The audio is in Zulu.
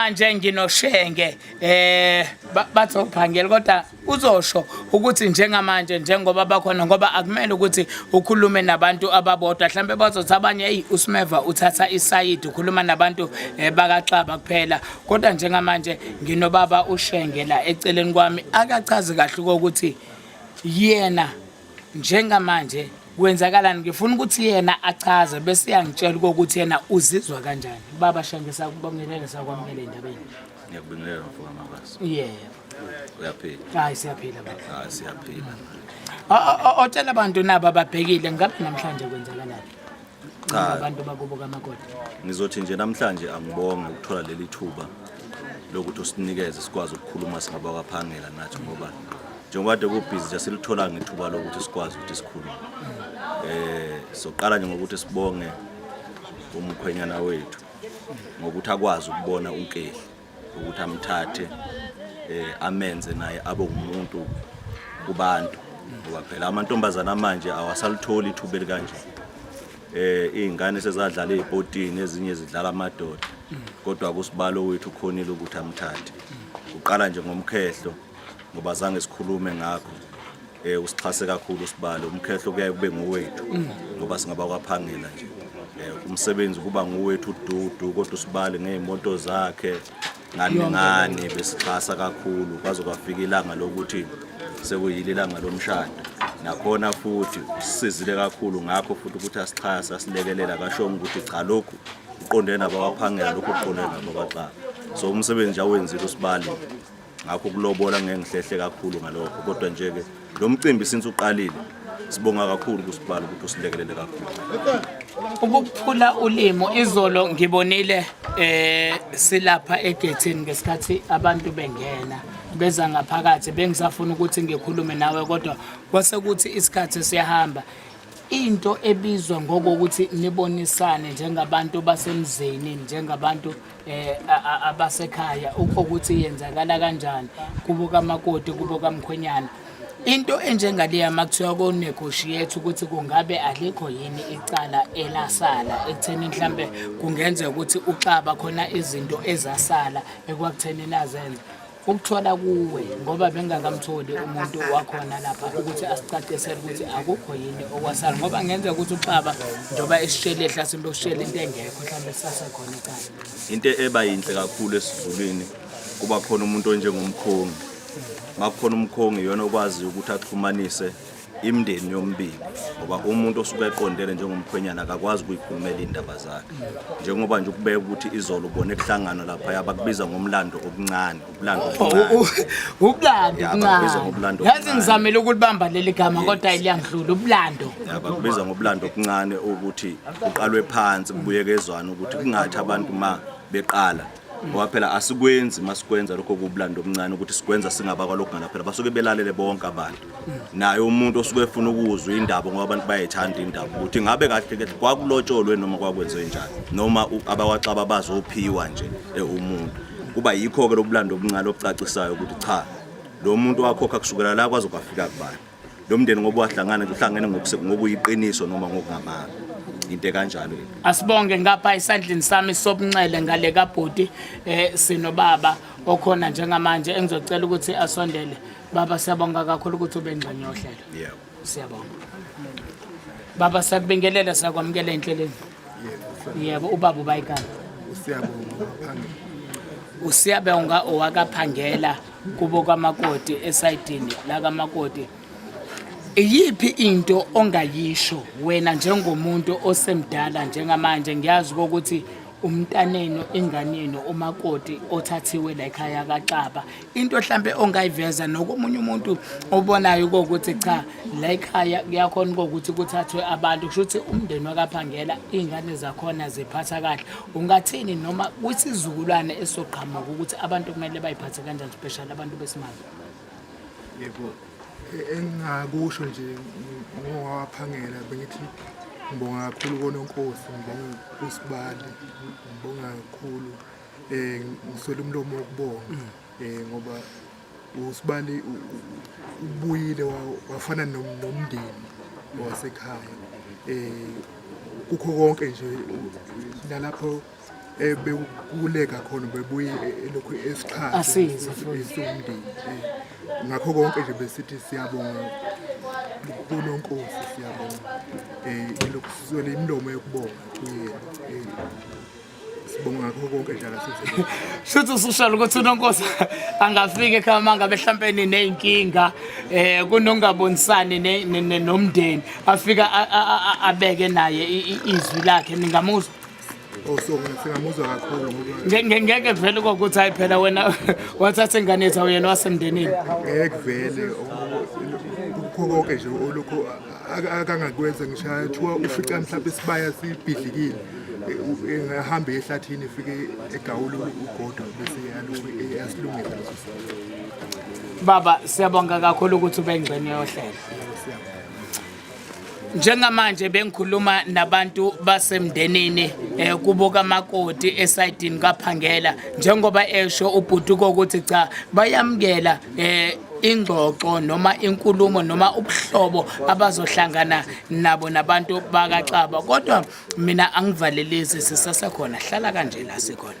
manje nginoshenge eh bathophangela kodwa uzosho ukuthi njengamanje njengoba bakhona ngoba akumele ukuthi ukhulume nabantu ababodwa mhlambe bazothi abanye hey uSmeva uthatha isayidi ukhuluma nabantu eh, bakaxaba kuphela kodwa njengamanje nginobaba ushenge la eceleni kwami akachazi kahle ukuthi yena njengamanje kwenzakalani ngifuna ukuthi yena achaze bese yangitshela ukuthi yena uzizwa kanjani baba shange sakubongelele sakwamukele endabeni ngiyakubingelela mfoka makazi yebo uyaphila hayi siyaphila baba hayi siyaphila otshela abantu nabo ababhekile ngabe namhlanje kwenzakalani Cha. abantu bakubo kamakoti Ngizothi nje namhlanje angibonge ukuthola leli thuba lokuthi usinikeze sikwazi ukukhuluma singabakwaphangela nathi ngoba njengoba kade kubhizi nje silithola ngethuba lokuthi sikwazi ukuthi sikhulume. Eh soqala nje ngokuthi sibonge umkhwenyana wethu ngokuthi akwazi ukubona unkehli. ukuthi amthathe eh amenze naye abe umuntu kubantu ngoba phela amantombazana manje awasalitholi ithuba elikanje eh izingane sezadlala ezipotini ezinye zidlala amadoda kodwa kusibalo wethu khonile ukuthi amthathe uqala nje ngomkhehlo ngoba zange sikhulume ngakho eh usixhase kakhulu sibalo umkhehlo kuyaye kube ngowethu ngoba singaba kwaphangela nje eh umsebenzi kuba ngowethu ududu kodwa usibale ngeemoto zakhe ngani ngani besixhasa kakhulu kwaze kwafika ilanga lokuthi sekuyile ilanga lomshado nakhona futhi usizile kakhulu ngakho futhi ukuthi asixhasa asilekelela kashonga ukuthi cha lokhu uqondene nabakwaphangela lokhu uqondene nabakwaxaba so umsebenzi awenzile usibali ngakho ukulobola ngeke ngihlehle kakhulu ngalokho kodwa nje ke lo mcimbi since uqalile sibonga kakhulu kusibhala ukuthi usilekelele kakhulu ukuphula ulimo izolo ngibonile eh silapha egethini ngesikhathi abantu bengena beza ngaphakathi bengisafuna ukuthi ngikhulume nawe kodwa kwase kuthi isikhathi siyahamba into ebizwa ngokokuthi nibonisane njengabantu basemzini njengabantu eh abasekhaya ukuthi yenzakala kanjani kubo kamakoti kubo kamkhwenyana into enjengaleya makuthiwa konegotiate ukuthi kungabe alikho yini icala elasala ekutheni mhlambe kungenzeka ukuthi uxaba khona izinto ezasala ekwakutheni nazenza ukuthola kuwe ngoba bengingakamtholi umuntu wakhona lapha ukuthi asicacisele ukuthi akukho yini okwasala ngoba ngenza ukuthi uxaba njengoba esishele ehla simbe ushele into engekho mhlawumbe sisasekhona icala into eba yinhle kakhulu esizulwini kuba khona umuntu onjengomkhongi makukhona umkhongi yona okwaziyo ukuthi axhumanise imndeni yombili ngoba umuntu osuke eqondele njengomkhwenyana akakwazi ukuyikhulumela iy'ndaba zakhe njengoba nje ukubeka ukuthi izolo ubone kuhlangana lapha yabakubiza ngomlando okuncane ubulando obuncaneubulando yazi ngizamele ukulibamba leli gama kodwa liyangidlula ubulando yabakubiza ngobulando okuncane ukuthi kuqalwe phansi kubuyekezwana ukuthi kungathi abantu ma beqala ngoba phela asikwenzi masikwenza lokho kubulanda omncane ukuthi sikwenza singabakwa lokhu ngala phela basuke belalele bonke abantu naye umuntu osuke efuna ukuzwa indaba ngoba abantu bayayithanda indaba ukuthi ngabe kahle kahle kwakulotsholwe noma kwakwenziwe njani noma abawaxaba bazophiwa nje eh, umuntu kuba yikho-ke lobulanda obuncane obucacisayo ukuthi cha lo muntu wakhokha kusukela la kwaze kwafika kubani lo mndeni ngoba wahlangana uhlangene ngokuyiqiniso noma ngokungamanga into kanjalo asibonge ngapha esandleni sami sobunxele ngale kabhuti eh sinobaba okhona njengamanje engizocela ukuthi asondele baba siyabonga kakhulu ukuthi ube ngxenye yohlelo yebo siyabonga baba sakubingelela sakwamukela enhlelweni yebo ubaba ubayikani usiyabonga usiyabonga owakaphangela kubo kamakoti esayidini la kamakoti iyiphi into ongayisho wena njengomuntu osemdala njengamanje ngiyazi ukuthi umntanenu inganenu umakoti othathiwe la ekhaya kaXaba into mhlambe ongayiveza nokomunye umuntu obonayo ukuthi cha la ekhaya kuyakhona ukuthi kuthathwe abantu kusho ukuthi umndeni wakaphangela izingane zakhona ziphatha kahle Ungathini noma kwisizukulwane esoqhamuka ukuthi abantu kumele bayiphathe kanjani special abantu besimame? Yebo. E, engingakusho nje ngowaphangela bengithi ngibonga kakhulu kononkosi ngibonga usibali ngibonga kakhulu um ngiswele umlomo wokubonga um ngoba usibali ubuyile wafana nomndeni wasekhaya um kukho konke nje nalapho bekukuleka khona bebuye elokhu esiqhaesumndeni ngakho konke nje besithi siyabonga kunonkosi siyabonga um elokhu sizwele imilomo yokubonga kuyena sibonga ngakho konke njalo sithe shuthi usushalo ukuthi unonkosi angafika ekhaya mangabe mhlampe nineyinkinga eh kunongabonisani nomndeni afika abeke naye izwi lakhe ningamuzwa ngeke vele kokuthi hayi phela wena wathatha ingane yethu awuyena wasemndenini ngeke vele kukho konke nje olukho akangakwenza ngisho athiwa ufica mhlawumbe isibaya sibhidlikile ehamba ehlathini efike egawula ugodo bese eyasilungisa leso sibaya baba siyabonga kakhulu ukuthi ube ngxenye yohlelo njengamanje bengikhuluma nabantu basemndenini eh kubuka makoti esayidini kaphangela njengoba esho ubhutuko ukuthi cha bayamkela eh ingxoxo noma inkulumo noma ubuhlobo abazohlangana nabo nabantu bakaxaba kodwa mina angivalelisi sisasekhona hlala kanje la sikhona